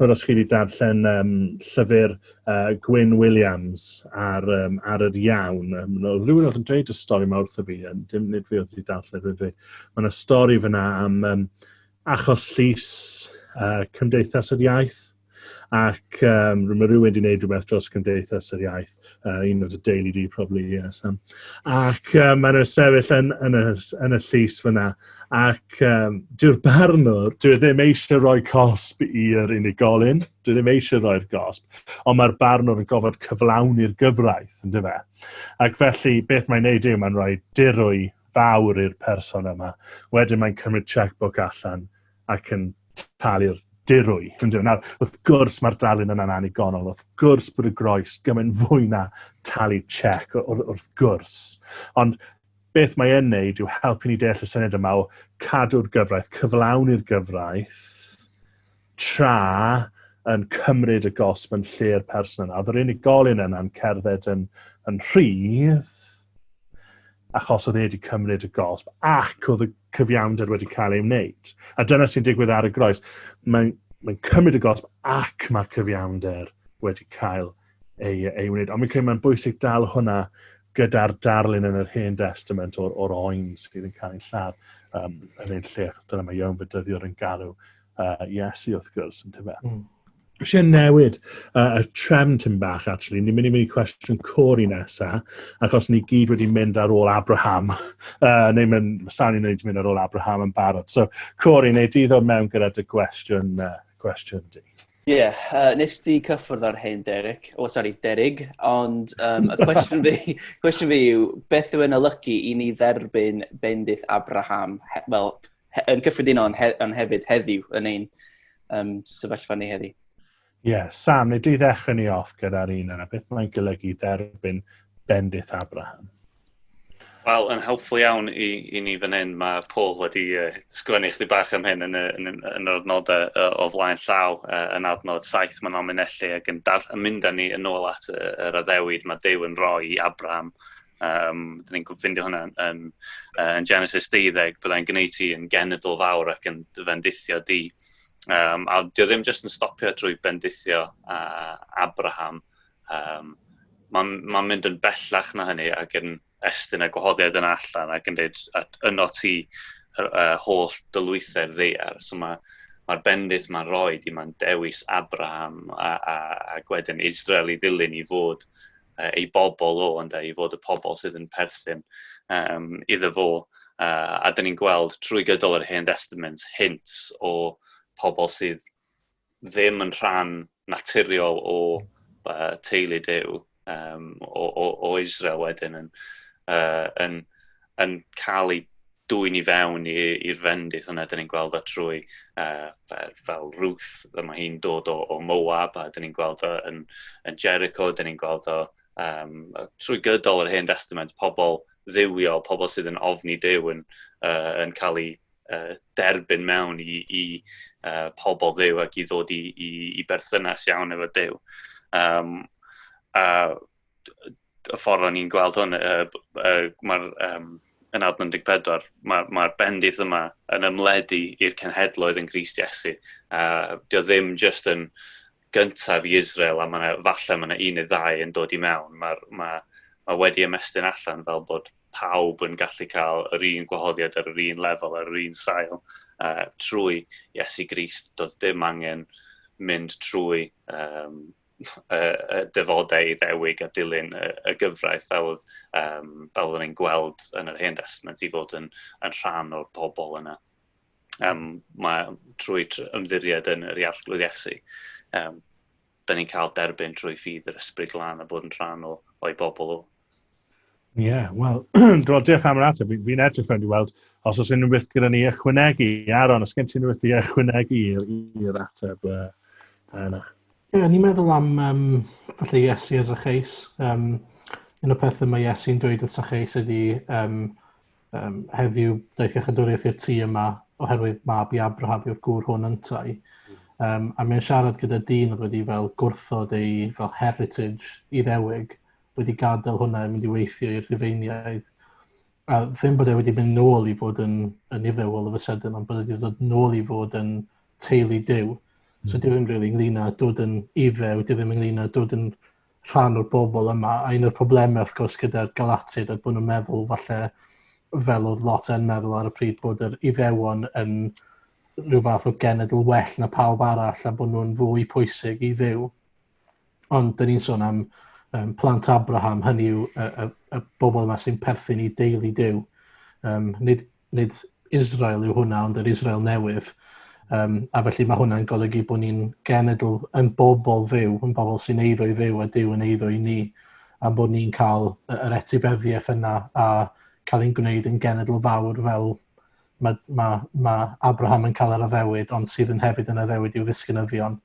Rwy'n os chi wedi darllen um, llyfr uh, Gwyn Williams ar, um, ar yr iawn. Um, no, rhywun oedd yn dweud y stori yma wrtho fi, yn dim nid fi oedd wedi darllen rhywun fi. Mae yna stori fyna am um, achos llys uh, Cymdeithas yr Iaith ac um, mae rhywun wedi gwneud rhywbeth dros Cymdeithas yr Iaith, uh, un o'r Daily D probably, yes. Um, ac um, mae'n sefyll yn, yn, y, yn y llys fyna, ac um, dyw'r barnwr, dwi e ddim eisiau rhoi cosb i'r unigolyn, Dwi ddim eisiau rhoi'r gosb, ond mae'r barnwr yn gofod cyflawni'r gyfraith, yn dyfa. Ac felly, beth mae'n neud yw, mae'n rhoi dirwy fawr i'r person yma. Wedyn mae'n cymryd checkbook allan ac yn talu'r dirwy. Nawr, wrth gwrs mae'r darlun yna'n annigonol, wrth gwrs bod y groes gymaint fwy na talu check, wrth gwrs. Ond beth mae e'n neud yw helpu ni deall y syniad yma o cadw'r gyfraith, cyflawni'r gyfraith, tra yn cymryd y gosb yn lle'r person yna. Oedd yr unigolyn yna'n cerdded yn, yn rhydd, achos oedd e wedi cymryd y gosb, ac oedd y cyfiawnder wedi cael ei wneud. A dyna sy'n digwydd ar y groes. Mae'n mae cymryd y gosb ac mae cyfiawnder wedi cael ei, ei wneud. Ond mae'n mae'n bwysig dal hwnna gyda'r darlun yn yr Hen Testament o'r, or oen sydd yn cael ei lladd um, yn ein lle. Dyna mae Iown Fydyddiwr yn galw uh, Iesu wrth gwrs, yn tyfa. Mm. Eisiau newid uh, y trefn tyn bach, actually. Ni'n mynd i mynd i cwestiwn cwr i nesa, achos ni gyd wedi mynd ar ôl Abraham, uh, neu mynd, sawn i'n wedi mynd ar ôl Abraham yn barod. So, Cori, neu di ddod mewn gyda dy gwestiwn, uh, gwestiwn di. Ie, yeah, uh, nes di cyffwrdd ar hyn, Derek. O, oh, sori, Derig. Ond um, y cwestiwn fi, cwestiwn fi yw, beth yw'n olygu i ni dderbyn bendith Abraham? Wel, he, yn cyffredinol ond, he, on hefyd heddiw yn ein um, sefyllfa ni heddiw. Ie, yeah, Sam, nid i ddechrau ni off gyda'r un yna, beth mae'n golygu dderbyn bendith Abraham? Wel, yn helpful iawn i, i ni fan hyn, mae Paul wedi uh, sgwennu chdi bach am hyn yn, yn, yn, yn yr adnodau uh, o flaen llaw uh, yn adnod saith mae'n alminellu ac yn, daf, yn mynd â ni yn ôl at yr uh, addewid mae Dew yn rhoi i Abraham Um, dyn ni'n ffeindio hwnna yn, yn, yn Genesis 12, byddai'n gwneud ti yn genedl fawr ac yn dy fendithio di. Um, a dio ddim jyst yn stopio drwy bendithio uh, Abraham. Um, Mae'n ma mynd yn bellach na hynny ac yn estyn y gwahoddiad yna allan ac yn dweud at yno ti uh, holl dylwythau'r ddeiar. So mae'r ma, bendith mae'n rhoi di, mae'n dewis Abraham a, a, a gwedyn Israel i ddilyn i fod uh, ei bobl o, ynde, i fod y pobl sydd yn perthyn um, iddo fo. Uh, a dyn ni'n gweld trwy gydol yr Hen Testament hint o pobl sydd ddim yn rhan naturiol o uh, teulu dew um, o, o, o Israel wedyn yn, uh, yn, yn cael eu dwyn i fewn i'r fendith yna, dyn ni'n gweld o trwy uh, fel Ruth, y mae hi'n dod o, o Moab, a dyn ni'n gweld o yn, yn Jericho, dyn ni'n gweld o um, trwy gydol yr hen testament, pobl ddiwio, pobl sydd yn ofni dew yn, uh, yn cael ei uh, derbyn mewn i, i uh, pobl ddew ac i ddod i, i, i berthynas iawn efo dew. Um, a y ffordd o'n i'n gweld hwn, uh, uh, mae'r um, yn adn 14, mae'r ma bendith yma yn ymledu i'r cenhedloedd yn Grist Iesu. A uh, dio ddim just yn gyntaf i Israel, a mae falle mae yna un neu ddau yn dod i mewn. Mae ma, ma wedi ymestyn allan fel bod pawb yn gallu cael yr un gwahoddiad ar yr un lefel, ar yr un sail, uh, trwy Iesu Grist. Doedd dim angen mynd trwy um, y, y dyfodau i ddewig a dilyn y, y gyfraith fel oedd, um, fel oedd ni'n gweld yn yr hen testament i fod yn, yn rhan o'r pobl yna. Um, mae trwy ymddiried yn yr iarglwydd Iesu, um, da ni'n cael derbyn trwy ffydd yr ysbryd lan a bod yn rhan o, o'i bobl o, Ie, yeah, wel, do, diolch am yr ateb. Fi'n fi edrych fewn i weld os oes unrhyw beth gyda ni ychwanegu. Aaron, os gen ti unrhyw beth i ychwanegu i'r ateb uh, yna? Ie, yeah, ni'n meddwl am um, falle Iesu as a cheis. Um, un o'r pethau mae Iesu'n dweud wrth a cheis ydy um, um, heddiw daeth iachadwriaeth i'r tŷ yma oherwydd mab i Abraham yw'r gŵr hwn yntau. Um, a mae'n siarad gyda dyn oedd wedi fel gwrthod ei fel heritage i ddewig wedi gadael hwnna i mynd i weithio i'r Rhufeiniaid. A ddim bod e wedi mynd nôl i fod yn, yn iddewol o fy sydyn, ond bod e wedi dod nôl i fod yn teulu dew. Mm. So dwi ddim rili really ynglyn â dod yn iddew, dwi ddim ynglyn â dod yn rhan o'r bobl yma. A un o'r problemau, wrth gwrs, gyda'r galatid oedd bod nhw'n meddwl falle fel oedd lot yn meddwl ar y pryd bod yr iddewon yn rhyw fath o genedl well na pawb arall a bod nhw'n fwy pwysig i fyw. Ond dyn ni'n sôn am um, plant Abraham, hynny yw y, y, y bobl yma sy'n perthyn i deulu dew. Um, nid, nid Israel yw hwnna, ond yr Israel newydd. Um, a felly mae hwnna'n golygu bod ni'n genedl yn bobl fyw, yn bobl sy'n eiddo i fyw a Dyw yn eiddo i ni, a bod ni'n cael yr etifeddiaeth yna a cael ein gwneud yn genedl fawr fel mae, mae, mae Abraham yn cael yr addewid, ond sydd yn hefyd yn addewid i'w ddisgynyddion,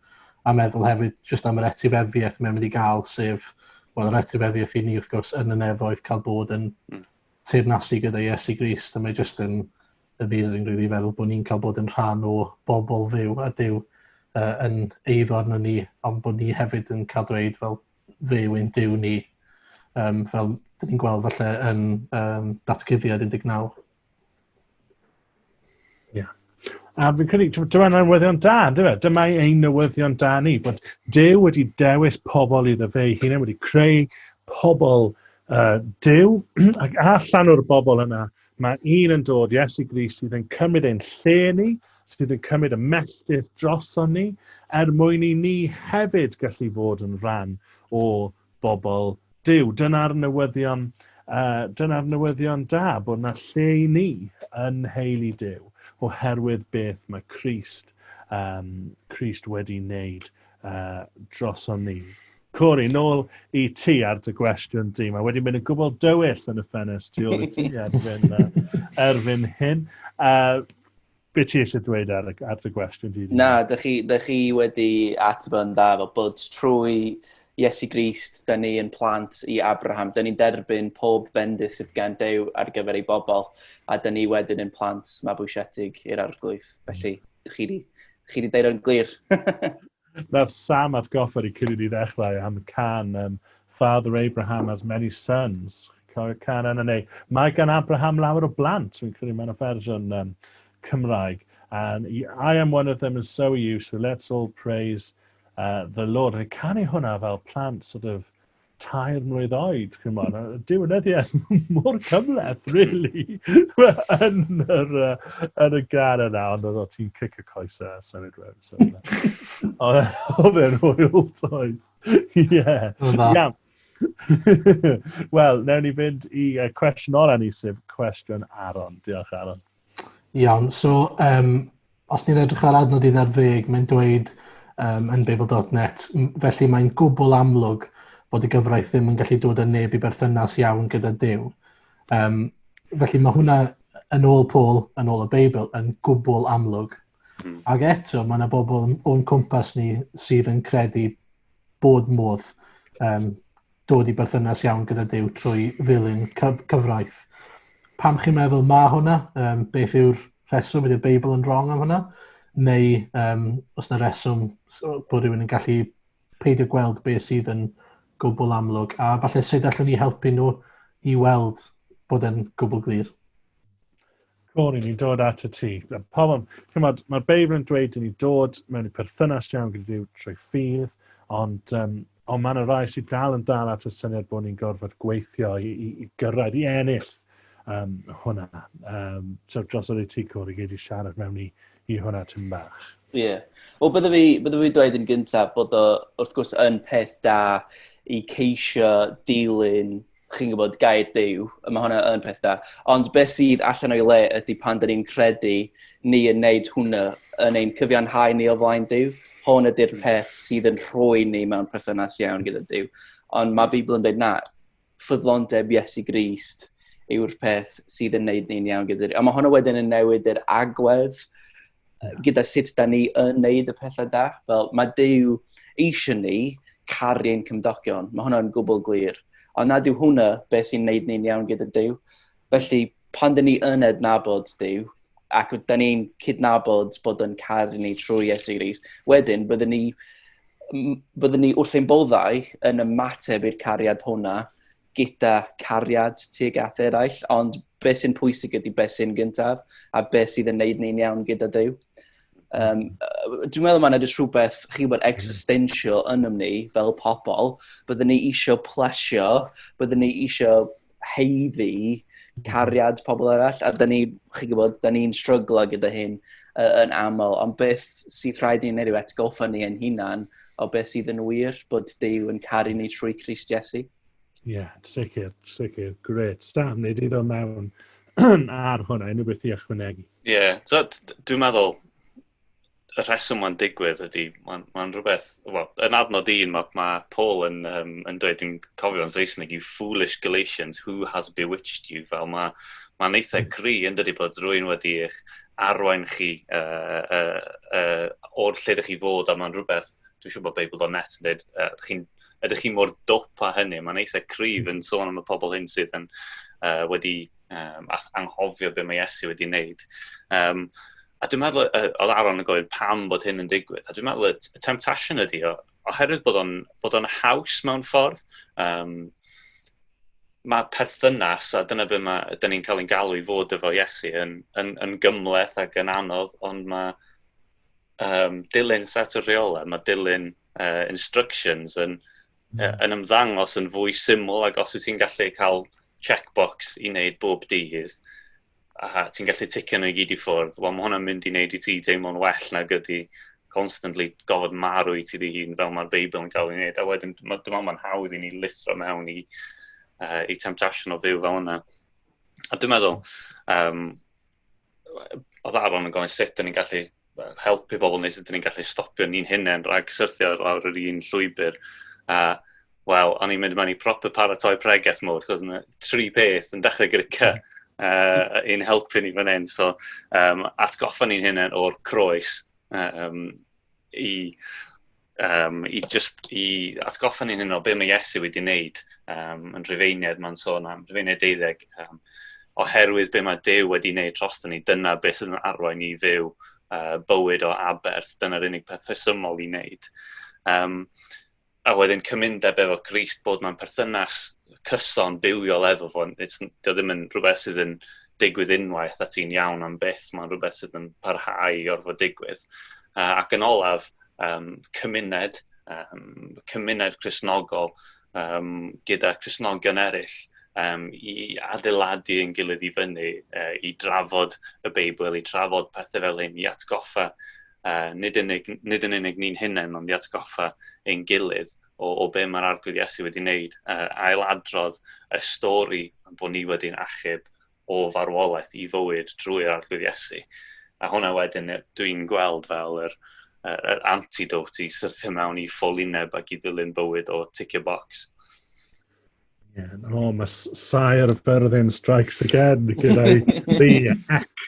a meddwl hefyd jyst am yr etifeddiaeth mae'n mynd i gael, sef, wel, yr etifeddiaeth i ni, wrth gwrs, yn y nefoedd cael bod yn hmm. teirnasu gyda Iesu Grist, a mae jyst yn amazing, rwy'n really, feddwl bod ni'n cael bod yn rhan o bobl fyw a dyw uh, yn eiddo arno ni, ond bod ni hefyd yn cael dweud fel fyw ein dyw ni, um, fel dyn ni'n gweld falle yn um, datguddiad 19. Yeah. A fi'n credu, dyma newyddion da, dyma, dyma ein newyddion da ni, bod Dyw wedi dewis pobl iddo fe ei hunain, wedi creu pobl uh, Dyw, ac allan o'r bobl yna, mae un yn dod, Iesu Gris, sydd yn cymryd ein lle ni, sydd yn cymryd y melltith droson ni, er mwyn i ni hefyd gallu fod yn rhan o bobl Duw. Dyna'r newyddion, uh, dyna'r newyddion da, bod yna lle i ni yn nheulu Duw, oherwydd beth mae Christ, um, Christ wedi wneud uh, droson ni. Cori, nôl i ti ar dy gwestiwn di. Mae wedi mynd yn gwbl dywyll yn y ffenest tu ôl i ti erbyn, uh, erbyn hyn. Uh, Be ti eisiau dweud ar, ar dy gwestiwn di? Na, dych chi, dych chi wedi ateb yn dda fel bod trwy Iesu Grist, da ni yn plant i Abraham, da ni'n derbyn pob bendith sydd gan Dew ar gyfer ei bobl, a da ni wedyn yn plant mabwysiedig i'r arglwydd. Felly, dych chi wedi chi wedi deud o'n glir. Nath Sam atgoffa ni cyn i ni ddechrau am can yym Father Abraham has many sons. Chi'n cofio'r can yna neu Mae gan Abraham lawer o blant. Fi'n credu mae yna fersiwn um, Cymraeg. And I am one of them and so are you so let's all praise uh, the Lord. O'n i'n canu hwnna fel plant sort of tair mlynedd oed, chi'n mwyn, a dyw yn edrych mor cymleth, really, yn, yr, uh, yn y gan yna, ond oedd ti'n cic y coes a symud rhywun. So, oedd e'n hwyl toed. Ie. Iawn. Wel, newn ni fynd i uh, cwestiwn ola ni, sef cwestiwn Aron. Diolch, Aron. Iawn so yym os ni'n edrych ar adnod un ar ddeg mae'n dweud yym yn Babel dot net m- felly mae'n gwbwl amlwg fod y gyfraith ddim yn gallu dod â neb i berthynas iawn gyda Duw. Yym felly mae hwnna yn ôl Paul, yn ôl y Beibl, yn gwbwl amlwg. Mm. Ac eto mae yna bobl o'n cwmpas ni sydd yn credu bod modd um, dod i berthynas iawn gyda Dyw trwy ddilyn cyf cyfraith. Pam chi'n meddwl ma hwnna? Um, beth yw'r rheswm? Ydy'r Beibl yn wrong am hwnna? Neu um, os yna reswm bod rhywun yn gallu peidio gweld beth sydd yn gwbl amlwg a falle sut allwn ni helpu nhw i weld bod e'n gwbl glir? Cwn i ni'n dod at y ti. Pobl, chymod, mae'r Beibl yn dweud i ni dod mewn i perthynas iawn gyda Dyw trwy ffydd, ond, um, ond mae yna rai sydd dal yn dal at y syniad bod ni'n gorfod gweithio i, i, i gyrraedd, i ennill um, hwnna. Um, so dros o'r ti cwr i gyd i siarad mewn i, i hwnna tyn bach. Ie. Yeah. Wel, bydde fi, bydde fi dweud yn gyntaf bod o, wrth gwrs, yn peth da i ceisio dilyn chi'n gwybod, gair dew, a mae hwnna yn peth da. Ond beth sydd allan o'i le ydy pan dyn ni'n credu ni yn neud hwnna yn ein cyfiawnhau ni o flaen dew. Hwn ydy'r hmm. peth sydd yn rhoi ni mewn perthynas iawn gyda dew. Ond mae Bibl yn dweud na, ffyddlondeb Iesu Grist yw'r peth sydd yn neud ni'n iawn gyda dew. A mae hwnna wedyn yn newid yr agwedd gyda sut da ni yn neud y pethau da. Fel, mae Dyw eisiau ni caru ein cymdogion. Mae hwnna'n gwbl glir. Ond nad yw hwnna beth sy'n neud ni'n iawn gyda Dyw. Felly, pan dyn ni yn ednabod Dyw, ac da ni'n cydnabod bod yn caru ni trwy Iesu Gris, wedyn byddwn ni, byddwn ni wrth ein boddau yn ymateb i'r cariad hwnna gyda cariad tuag at eraill, ond beth sy'n pwysig ydy beth sy'n gyntaf a beth sydd yn neud ni'n iawn gyda Dyw. Um, dwi'n meddwl mae yna jyst rhywbeth, chi bod, existential yn ymni fel pobl. Byddwn ni eisiau plesio, byddwn ni eisiau heiddi cariad pobl arall, a da ni, chi gwybod, da ni'n stryglo gyda hyn uh, yn aml, ond beth sydd rhaid ni'n neud yw atgoffa ni ein hunan o beth sydd yn wir, bod Dyw yn caru ni trwy Cris Jesu. Ie, yeah, sicr, sicr, gret. Sam, nid iddo mewn ar hwnna, unrhyw beth i ychwanegu. Ie, yeah, so, dwi'n meddwl, y rheswm mae'n digwydd ydy, mae'n ma rhywbeth, well, yn adnod un, mae ma Paul yn, um, yn dweud, dwi'n cofio yn Saesneg, you foolish Galatians, who has bewitched you, fel mae ma eitha gri yn dydy bod rwy'n wedi eich arwain chi uh, uh, uh, o'r lle ydych chi fod a mae'n rhywbeth, dwi'n siŵr bod Beibl o'n net yn dweud, uh, chi, ydych chi mor dop a hynny, mae'n eitha cryf hmm. yn sôn am y pobl hyn sydd yn uh, wedi um, anghofio beth mae Iesu wedi wneud. Um, a dwi'n meddwl, uh, oedd Aaron yn gofyn pam bod hyn yn digwydd, a dwi'n meddwl y temptation ydy o, oherwydd bod o'n, bod o'n haws mewn ffordd. Um, mae perthynas, a dyna beth mae, dyn ni'n cael ein galw i fod efo Iesu, yn, yn, yn gymleth ac yn anodd, ond mae um, dilyn set o rheolau, mae dilyn uh, instructions yn, mm. uh, yn ymddangos yn fwy syml, ac os wyt ti'n gallu cael checkbox i wneud bob dydd, a ti'n gallu ticio nhw i gyd i ffwrdd, wel mae hwnna'n mynd i wneud i ti deimlo'n well na gydy constantly gofod marw i ti dy hun fel mae'r Beibl yn cael ei wneud. A wedyn, dwi'n meddwl mae'n hawdd i ni lithro mewn i, uh, i temptation o fyw fel yna. A dwi'n meddwl, um, oedd Aaron yn gofyn sut dyn ni'n gallu helpu pobl neu sut ni'n gallu stopio ni'n hunain rhag syrthio lawr yr un llwybr. A wel, o'n i'n mynd mewn i proper paratoi pregeth mode, chos yna tri peth yn dechrau gyda cy uh, yn helpu ni fan hyn. So, um, atgoffa ni'n hynny o'r croes um, i um, i just i atgoffa ni'n hyn o beth mae Iesu wedi wneud um, yn rhyfeiniad mae'n sôn am, rhyfeiniad deuddeg, um, oherwydd beth mae Dew wedi wneud tros ni, dyna beth sydd yn arwain i fyw uh, bywyd o aberth, dyna'r unig peth rhesymol i wneud. Um, a wedyn cymundeb efo Grist bod mae'n perthynas cyson bywiol efo fo, dio ddim yn rhywbeth sydd yn digwydd unwaith a ti'n iawn am byth, mae'n rhywbeth sydd yn parhau i orfod digwydd. Uh, ac yn olaf, um, cymuned, um, cymuned Cresnogol um, gyda Cresnogion eraill um, i adeiladu yn gilydd i fyny, uh, i drafod y Beibl, i trafod pethau fel hyn, i atgoffa uh, nid, unig, nid yn unig ni'n hunain, ond i atgoffa ein gilydd o, o be mae'r arglwydd Iesu wedi wneud, uh, ail adrodd y stori bod ni wedi'n achub o farwolaeth i fywyd drwy'r Arglwydd Iesu. A hwnna wedyn dwi'n gweld fel yr, yr antidote i syrthio mewn i ffolineb ac i ddilyn bywyd o ticio box. Yeah. O, oh, mae Sire of Berlin strikes again gyda'i the hack.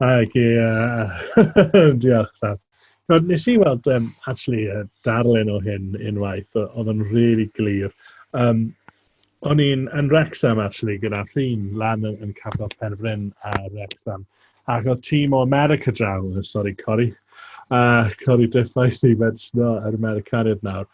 Ac i... Uh, diolch, Dad. Rod, nes i weld, um, actually, uh, darllen o hyn unwaith, oedd yn really glir. Um, O'n i'n yn Wrexham actually gyda ffrind lan yn, yn Capel Penfryn a Wrexham. Ac oedd tîm o America draw, uh, sori Cori, uh, Cori Diffais i mentiono yr Americaniad nawr.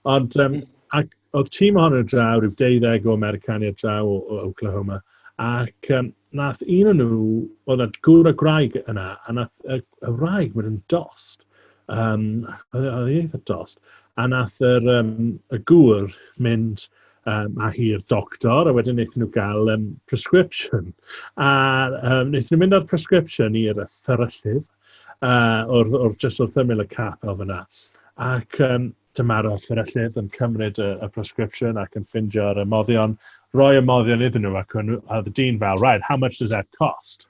Ond um, ac oedd tîm ohono draw, rhyw deuddeg o Americaniad draw o, o Oklahoma, ac um, nath un o'n nhw, oedd na gŵr a gwraig yna, a nath y, y wraig mynd yn dost. Yym, oedd e oedd e'n eitha dost. A wnaeth yr yym, y gŵr mynd yym, â hi i'r doctor a wedyn wnaethon nhw gael yym, prescription. A yym, wnaethon nhw mynd â'r prescription i'r yy fferyllydd yy, o'r o'r jyst wrth ymyl y capel fan'na. Ac yym, dyma'r yy fferyllydd yn cymryd y y prescription ac yn ffindio'r ymoddion, roi ymoddion iddyn nhw ac o'n nhw a oedd y dyn fel, 'Right, how much does that cost?'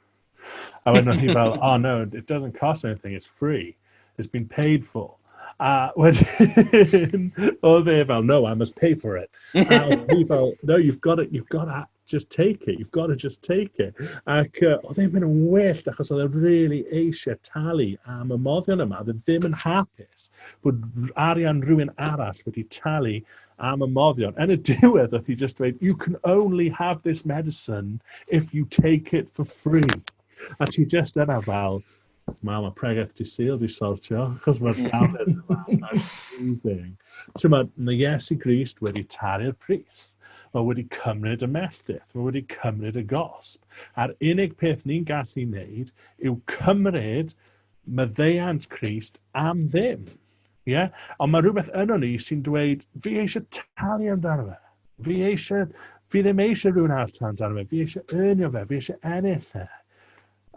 A wedyn o'n i fel, oh no, it doesn't cost anything, it's free. It's been paid for. A wedyn, oedd e fel, no, I must pay for it. A oedd e fel, no, you've got it, you've got to just take it, you've got to just take it. Ac uh, oedd e'n mynd yn wyllt, achos oedd e'n really eisiau talu am y moddion yma. Oedd e ddim yn hapus bod arian rhywun arall wedi talu am y moddion. Yn y diwedd, oedd hi just dweud, you can only have this medicine if you take it for free. A ti just yna fel, Mae mae pregeth di syl di sortio, achos mae'r dafod yma. Amazing. Ti'n ma, mae Iesu Grist wedi taru'r pris. Mae wedi cymryd y melltith. Mae wedi cymryd y gosb. A'r unig peth ni'n gallu wneud yw cymryd maddeuant Crist am ddim. Ie? Ond mae rhywbeth yno ni sy'n dweud, fi eisiau talu amdano fe. Fi eisiau, fi ddim eisiau rhywun arall talu amdano fe. Fi eisiau ernio fe, fi eisiau ennill fe.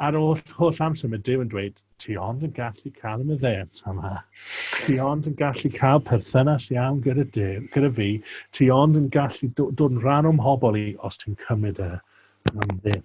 Ar ôl holl amser mae Dyw yn dweud, ti ond yn gallu cael y meddent yma. Ti ond yn gallu cael perthynas iawn gyda Dyw, gyda fi. Ti ond yn gallu dod yn rhan o'm hobol i os ti'n cymryd e. Mae'n ddim.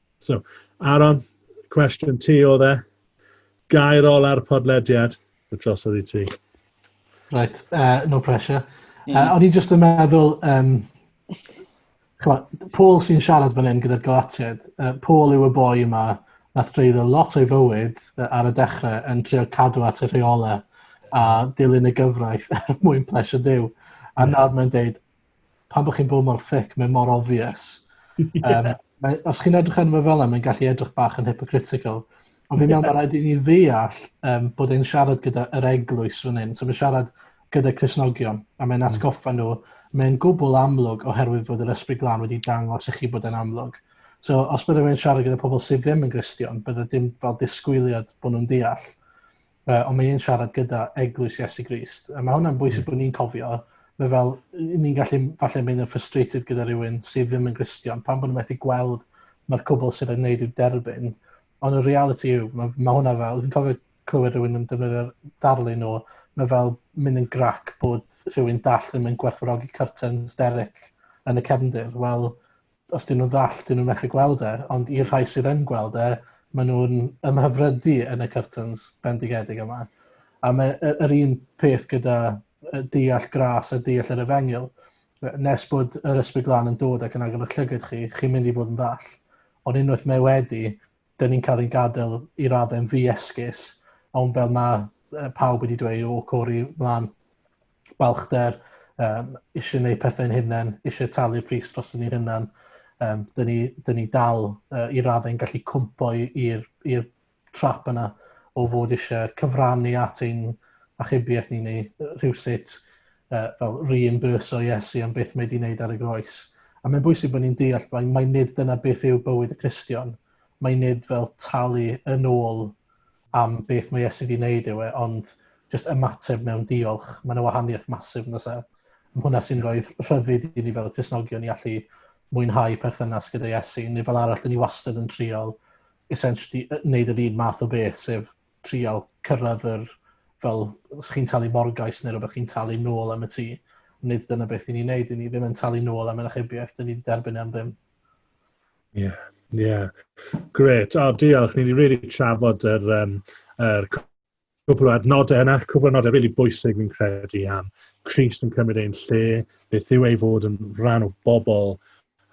So, Aaron, cwestiwn ti o dde. Gair ola'r podlediad, y tros oedd i ti. Right, uh, no pressure. Mm. Uh, o'n i jyst yn meddwl, um, chwa, Paul sy'n siarad fan hyn gyda'r Galatiad, uh, Paul yw y boi yma nath dreiddo lot o'i fywyd uh, ar y dechrau yn trio cadw at y rheolau a dilyn y gyfraith er mwyn plesio Dyw. A nawr mae'n dweud, pan bod chi'n bod mor thic, mae mor obvious. um, mae, os chi'n edrych arno fe fel yna, mae'n gallu edrych bach yn hypocritical. Ond fi'n meddwl mae rhaid i ni ddeall um, bod e'n siarad gyda yr eglwys fan hyn. So mae'n siarad gyda Cresnogion, a mae'n hmm. atgoffa nhw. Mae'n gwbl amlwg oherwydd fod yr ysbryd glân wedi dangos i chi bod e'n amlwg. So os byddai mae'n siarad gyda pobl sydd ddim yn Gristion, byddai dim fel disgwyliad bod nhw'n deall. uh, ond mae e'n siarad gyda eglwys Iesu Grist. A mae hwnna'n bwysig mm. bod ni'n cofio, mae fel, ni'n gallu falle mynd yn frustrated gyda rhywun sydd ddim yn Gristion, pan bod nhw'n methu gweld mae'r cwbl sydd yn gwneud i'w derbyn. Ond y reality yw, mae, mae hwnna fel, dwi'n cofio clywed rhywun yn defnyddio'r darlun o, mae fel mynd yn grac bod rhywun dall ddim yn gwerthfawrogi curtains Derek yn y cefndir. Wel, os dyn nhw'n ddall, dyn nhw'n methu gweld e, ond i'r rhai sydd yn gweld e, maen nhw'n ymhyfrydu yn y curtains bendigedig yma. A mae yr un peth gyda deall gras a deall yr efengil. Nes bod yr ysbryd glan yn dod ac yn agor y llygyd chi, chi'n mynd i fod yn ddall. Ond unwaith mae wedi, 'dyn ni'n cael ein gadael i raddau'n ddi-esgus, ond fel mae uh, pawb wedi dweud o cori mlaen, balchder, um, eisiau gwneud pethau'n hunain, eisiau talu'r pris dros ni'n hunain, um, dyn, ni, dyn ni dal uh, i raddau'n gallu cwmpo i'r trap yna o fod eisiau cyfrannu at ein achubiaeth ni neu rhywsut uh, fel reimburso Iesu am beth mae wedi wneud ar y groes. A mae'n bwysig bod ni'n deall mae, mae nid dyna beth yw bywyd y Cristion. Mae nid fel talu yn ôl am beth mae Iesu wedi wneud yw e, ond just ymateb mewn diolch. Mae yna wahaniaeth masif yn ysaf. Mae hwnna sy'n rhoi rhyddid i ni fel Cresnogion i allu mwynhau perthynas gyda Iesu, neu fel arall, dyn ni wastad yn triol essentially wneud yr un math o beth, sef trial cyrraedd yr fel os chi'n talu morgais neu rhywbeth chi'n talu nôl am y tŷ. Nid dyna beth i ni'n neud, i ni ddim yn talu nôl am yr achubiaeth, dyn ni wedi derbyn e am ddim. Ie, yeah, ie. Yeah. Gret, o diolch, ni wedi rili really trafod yr, um, yr cwbl o adnodau yna, cwbl o adnodau rili really bwysig fi'n credu am Christ yn cymryd ein lle, beth yw ei fod yn rhan o bobl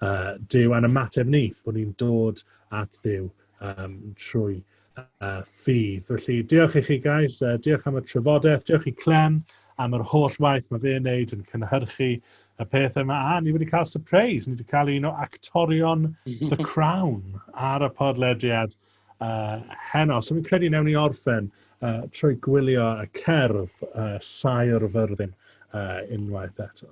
uh, Duw a'n ymateb ni, bod ni'n dod at Duw um, trwy uh, ffydd. Felly, diolch i chi guys, uh, diolch am y trafodaeth, diolch i Clem am yr holl waith mae fe'n neud yn cynhyrchu y peth yma. A, ni wedi cael surprise, ni wedi cael un o actorion The Crown ar y podlediad uh, heno. So, fi'n credu newn ni orffen uh, trwy gwylio y cerdd uh, Saer Fyrddin uh, unwaith eto.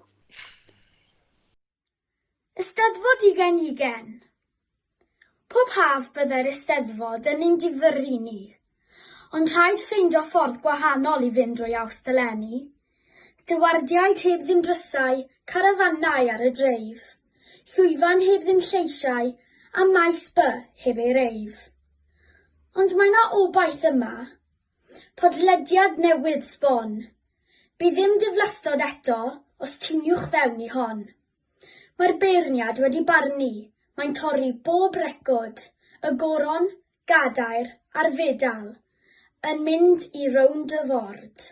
Eisteddfod ugain ugain. Pob haf byddai'r Eisteddfod yn ein difyrru ni, ond rhaid ffeindio ffordd gwahanol i fynd drwy Awst eleni. Stiwardiaid heb ddim drysau, carafanau ar y dreif, llwyfan heb ddim lleisiau a maes by heb ei reif. Ond mae 'na obaith yma. Podlediad newydd sbon. Bydd dim diflastod eto os tiniwch fewn i hon. Mae'r beirniad wedi barnu, mae'n torri bob record, y goron, gadair a'r fedal yn mynd i rownd y ford.